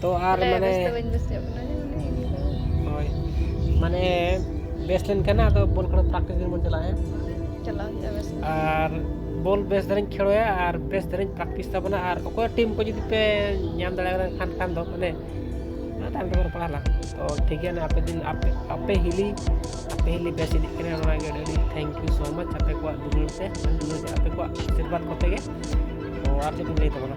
ᱛᱚ ᱟᱨ ᱢᱟᱱᱮ ᱦᱳᱭ ᱢᱟᱱᱮ ᱵᱮᱥ ᱞᱮᱱᱠᱷᱟᱱ ᱟᱫᱚ ᱵᱚᱞ ᱠᱷᱮᱞ ᱯᱨᱮᱠᱴᱤᱥ ᱫᱤᱱ ᱵᱚᱱ ᱪᱟᱞᱟᱜᱼᱟ ᱪᱟᱞᱟᱣ ᱦᱩᱭᱩᱜᱼᱟ ᱵᱮᱥ ᱟᱨ ᱵᱚᱞ ᱵᱮᱥ ᱫᱷᱟᱨᱟᱧ ᱠᱷᱮᱞᱳᱭᱟ ᱟᱨ ᱵᱮᱥ ᱫᱷᱟᱨᱟᱧ ᱯᱨᱮᱠᱴᱤᱥ ᱛᱟᱵᱚᱱᱟ ᱟᱨ ᱚᱠᱚᱭ ᱴᱤᱢ ᱠᱚ ᱡᱩᱫᱤ ᱯᱮ ᱧᱟᱢ ᱫᱟᱲᱮᱭᱟᱜ ᱠᱟᱱ ᱠᱷᱟᱱ ᱫᱚ ᱢᱟᱱᱮ ᱛᱟᱭᱚᱢ ᱛᱮᱵᱚᱱ ᱨᱚᱯᱚᱲᱟ ᱞᱟᱝ ᱛᱚ ᱴᱷᱤᱠ ᱜᱮᱭᱟ ᱟᱯᱮ ᱫᱤᱱ ᱟᱯᱮ ᱟᱯᱮ ᱦᱤᱞᱤ ᱟᱯᱮ ᱦᱤᱞᱤ ᱵᱮᱥ ᱤᱫᱤᱜ ᱠᱟᱱᱟ ᱚᱱᱟ ᱜᱮ ᱟᱹᱰᱤ ᱛᱷᱮᱝᱠ ᱭᱩ ᱥᱳ ᱢᱟᱪ ᱟᱯᱮ ᱠᱚᱣᱟᱜ ᱫᱩᱞᱟᱹᱲ ᱛᱮ ᱟᱯᱮ ᱠᱚᱣᱟᱜ ᱟᱥᱤᱨᱵᱟᱫᱽ ᱠᱚᱛᱮ ᱜᱮ ᱛᱚ ᱟᱨ ᱪᱮᱫ ᱤᱧ ᱞᱟᱹᱭ ᱛᱟᱵᱚᱱᱟ